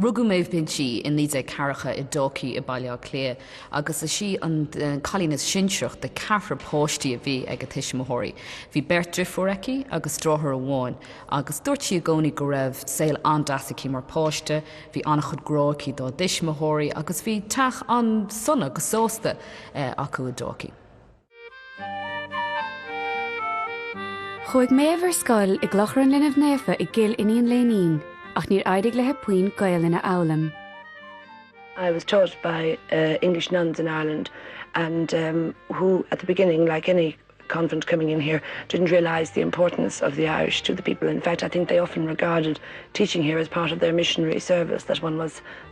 Rugadh Maeve Binchy i 1940 i Dalkey i mBaile Átha Cliath agus is í an cailín is sinsearaí de cheathrar páistí a bhí ag a tuismitheoirí. Bhí beirt driféar aici agus driotháir amháin agus dúirt sí i gcónaí go raibh saol an-deas aici mar pháiste. Bhí an-chuid grá aici dá tuismitheoirí agus bhí teach an-sona go sásta acu i Dalkey. Chuaigh Méabh ar scoil i gClochar an Linbh Naofa i gCill Iníon Léinín, ach níor éirigh léi puinn Gaelainn a fhoghlaim. I was taught by English nuns in Ireland and who at the beginning, like any convent coming in here, didn't realise the importance of the Irish to the people, in fact I think they often regarded teaching here as part of their missionary service, that one was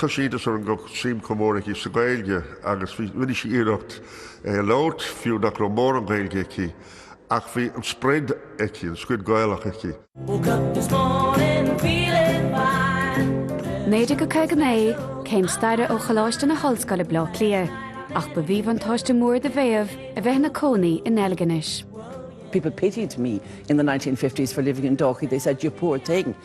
Chuir sí iontas orm go raibh suim chomh mór aici sa Ghaeilge agus bhí, rinne sí iarracht é a labhairt, fiú nach raibh mórán Gaeilge aici, ach bhí an sprid aici, an sprid Ghaelach aici. Woke up this morning feeling fine. 1959, Céim Staire ó Choláiste na hOllscoile Bleá Cliath, ach ba mhíbhuntáiste mór do Mhéadhbh a bheith ina cónaí i nDeilginis. People pitied me in the nineteen fifties for living in Dalkey, they said, you poor thing.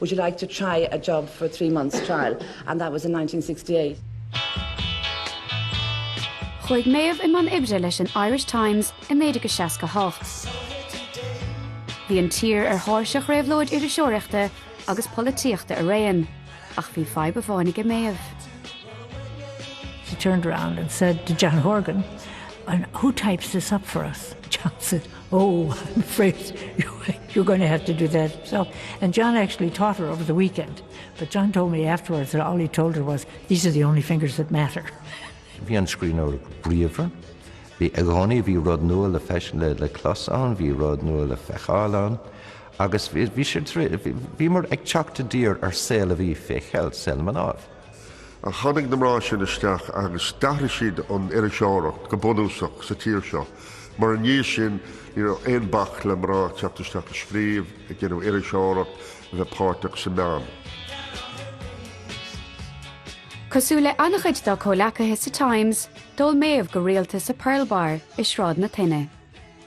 would you like to try a job for three months trial and that was in nineteen sixty eight. Chuaigh Méabh i mbun oibre leis an Irish Times i 1968. Bhí an tír ar thairseach réabhlóid iriseoireachta agus polaitíochta araon, ach bhí fadhb amháin ag Méabh. She turned around and said to John Horgan, who types this up for us? John said. Oh, I'm afraid you're going to have to do that yourself. And John actually taught her over the weekend. But John told me afterwards that all he told her was, these are the only fingers that matter. Bhí an scríbhneoir bríomhar. Bhí i gcónaí, bhí rud nua le feis, le, le clos ann, bhí rud nua le feiceáil ann. Agus bhí, bhí sé, bhíomar ag teacht i dtír ar shaol a bhí fé cheilt, saol na mnáibh. Ach tháinig na mná sin isteach agus d'athraigh siad an iriseoireacht go bunúsach sa tír seo, mar ina dhiaidh sin ní raibh aon bac le mná teacht isteach ag scríobh, ag déanamh iriseoireacht, a bheith páirteach sna meáin. Cosúil le an-chuid dá comhleacaithe sa Times, d'ól Méabh go rialta sa Pearl Bar i Sráid na Toinne.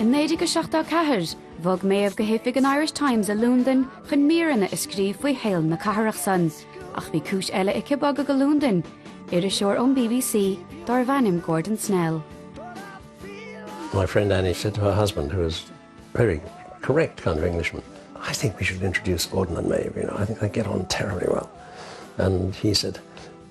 In 1974, bhog Méadhbh go hoifig an Irish Times i Londain chun míreanna a scríobh faoi shaol na cathrach san, ach bhí cúis eile aici bogadh go Londain, iriseoir ón BBC dárbh ainm Gordon Snell. My friend Annie said to her husband, who was very correct kind of Englishman, I think we should introduce Gordon and Maeve, you know, I think they get on terribly well. And he said,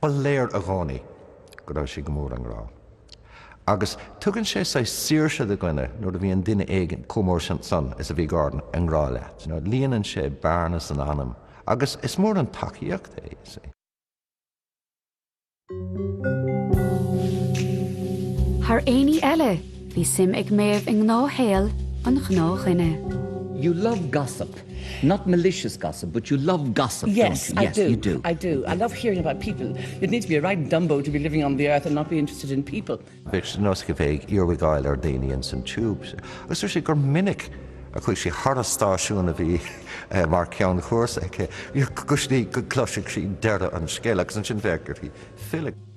Ba léir i gcónaí go raibh sé go mór i ngrá. Agus tugann sé saghas saoirse do dhuine nuair a bhíonn duine éigin chomh mór san is a bhí Gordon i ngrá leat. Líonann sé bearna san anam agus is mór an tacaíocht é. Thar aon ní eile, bhí suim ag Méabh i ngnáthshaol an ghnáthdhuine. You love gossip. Not malicious gossip, but you love gossip, don't you? Yes, I do, I do. I love hearing about people. You'd need to be a right Dumbo to be living on the earth and not be interested in people. Bhí sé de nós aici a bheith ag cúléisteacht le daoine ins an tiúb. Agus dúirt sí gur minic a chuaidh sí thar an stáisiún a bhí mar ceann cúrsa aici go gcloisfeadh sí deireadh an scéil agus ansin bheadh uirthi filleadh.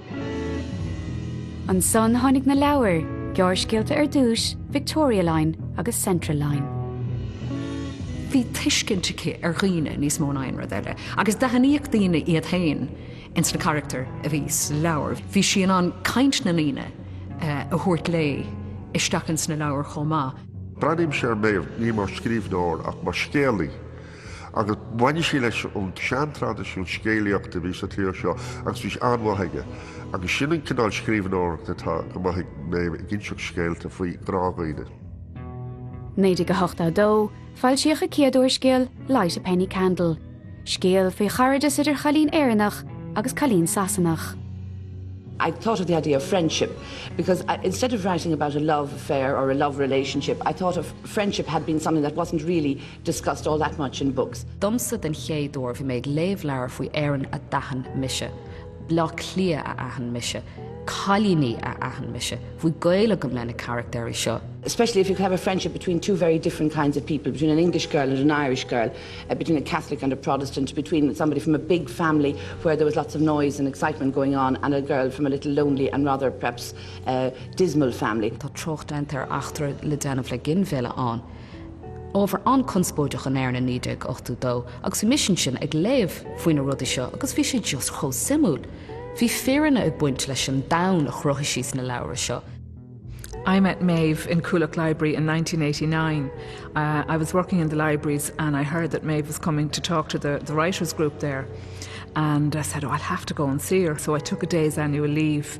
Ansan tháinig na leabhair gearrscéalta ar dtúis, Victoria Line agus Central Line. Bhí tuiscint aici ar dhaoine níos mó ná aon rud eile, agus d'aithníodh daoine iad féin ins na carachtair a bhí sa leabhar. Bhí sí in ann caint na ndaoine a thabhairt léi isteach ins na leabhair chomh maith. Breathnaímse ar Maeve ní mar scríbhneoir ach mar scéalaí. agus baineann sí leis an seantraidisiún scéalaíochta a bhí sa tír seo agus bhí sé an-mhaith aici, agus sin an cineál scríbhneoireachta atá go maith ag Maeve, ag inseacht scéalta faoi ghnáthdhaoine. 1982, Foilsíodh a céad úrscéal, Light a Penny Candle, scéal faoi chairdeas idir chailín Éireannach agus cailín Sasanach. I thought of the idea of friendship because I instead of writing about a love affair or a love relationship I thought of friendship had been something that wasn't really discussed all that much in books. Domsa den chéad uair, bhí mé ag léamh leabhair faoi Éirinn a d'aithin mise, Bleá Cliath a d'aithin mise, cailíní a d'aithin mise, bhí gaol agam leis na carachtair seo. especially if you could have a friendship between two very different kinds of people, between an English girl and an Irish girl, between a Catholic and a Protestant, between somebody from a big family where there was lots of noise and excitement going on and a girl from a little lonely and rather perhaps dismal family. Tá trácht déanta ar eachtra le déanamh le ginmhilleadh ann. Ábhar an-conspóideach in Éirinn 1982 agus bhí mise ansin ag léamh faoi na rudaí seo agus bhí sé just chomh suimiúil. Bhí fírinne ag baint leis an domhan a chruthaigh sí sna leabhra seo. I met Maeve in Coolock Library in 1989. Uh, I was working in the libraries and I heard that Maeve was coming to talk to the, the writers group there. And I said, oh, I'll have to go and see her. So I took a day's annual leave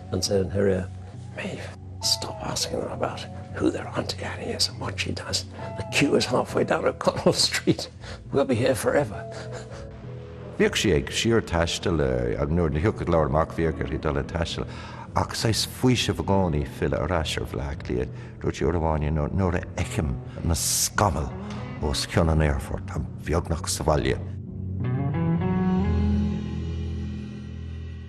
an saol thoir. Maeve, Stop asking them about who their Auntie Annie is and what she does. The queue is halfway down O'Connell Street. We'll be here forever. Bhíodh sí ag síorthaisteal agus nuair a thiocfadh leabhar amach bhíodh uirthi dul ag taisteal ach saghas faoisimh i gcónaí filleadh ar ais ar Bhleá Cliath. Dúirt sí uair amháin nuair a fheicim na scamaill os cionn an aerfoirt táim beagnach sa bhaile.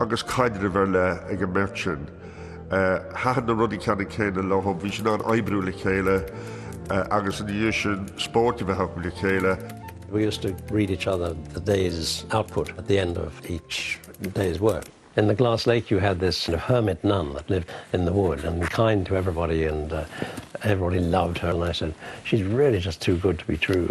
agus caidreamh ar leith ag an mbeirt sin. Thaitin na rudaí ceannann céanna leo, bhí siad in ann oibriú le chéile agus, ina dhiaidh sin, spórt a bheith acu le chéile. We used to read each other the day's output at the end of each day's work. In the Glass Lake you had this hermit nun that lived in the wood and kind to everybody and everybody loved her and I said, she's really just too good to be true.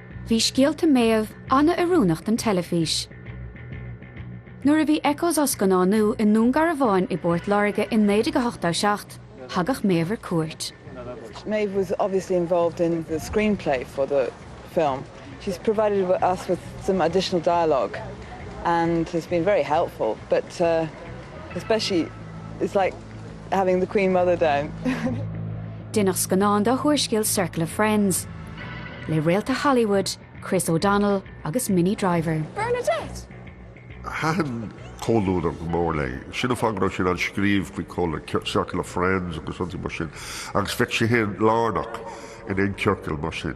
Bhí scéalta Maeve an-oiriúnach don teilifís. Nuair a bhí Echoes á scannánú i nDún Garbháin i bPort Láirge in 1987, thagadh Maeve ar cuairt. Maeve was obviously involved in the screenplay for the film. She's provided us with some additional dialogue and has been very helpful but uh especially it's like having the Queen Mother down. Deineadh scannán dá húrscéal Circle of Friends, le réalta Hollywood Chris O'Donnell agus Minnie Driver. Bernadette! Thaitin comhluadar go mór léi. Sin an fáth go raibh sí in ann scríobh faoi comhluadar, circle of friends agus rudaí mar sin, agus bheadh sí féin lárnach in aon ciorcal mar sin.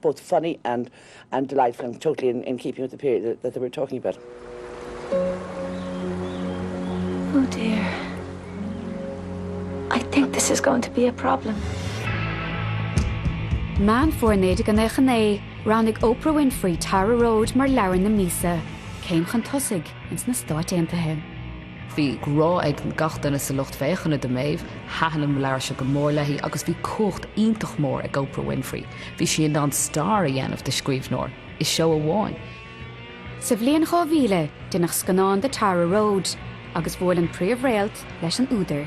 both funny and and delightful and totally in in keeping with the period that that they were talking about. Oh dear. I think this is going to be a problem. Meán Fómhair 1999, roghnaigh Oprah Winfrey Tara Road mar Leabhar na Míosa, céim chun tosaigh ins na Stáit Aontaithe. Bhí grá ag gach duine sa lucht féachana do Maeve, thaitin an leabhar seo go mór léi agus bhí cumhacht iontach mór ag Oprah Winfrey, bhí sí in ann star a dhéanamh de scríbhneoir i seó amháin. Sa bhliain 2000, deineadh scannán de Tara Road agus bhuail an príomh-réalt leis an údar.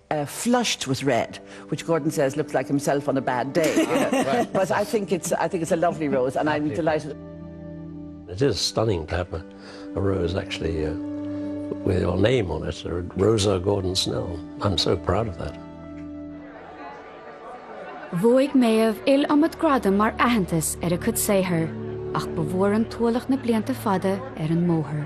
flushed with red, which Gordon says looks like himself on a bad day, you know, but I think it's, I think it's a lovely rose and I'm delighted. It is stunning to have a rose actually with your name on it, Rosa Gordon-Snell, I'm so proud of that. Bhuaigh Méabh iliomad gradam mar aitheantas ar a cuid saothair ach ba mhór an t-ualach na blianta fada ar an mbóthar.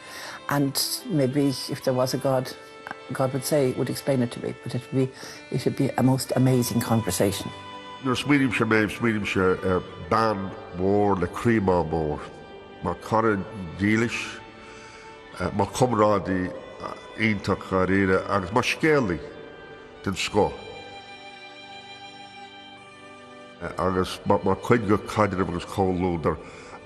and maybe if there was a God, God would say, would explain it to me, but it would be, it would be a most amazing conversation. Nuair a smaoinímse ar Maeve, smaoinímse ar bean mhór le croí maith mór, mar cara dílis, mar chomrádaí iontach dháiríre agus mar scéalaí den scoth. agus mar chuid de chaidreamh agus comhluadar.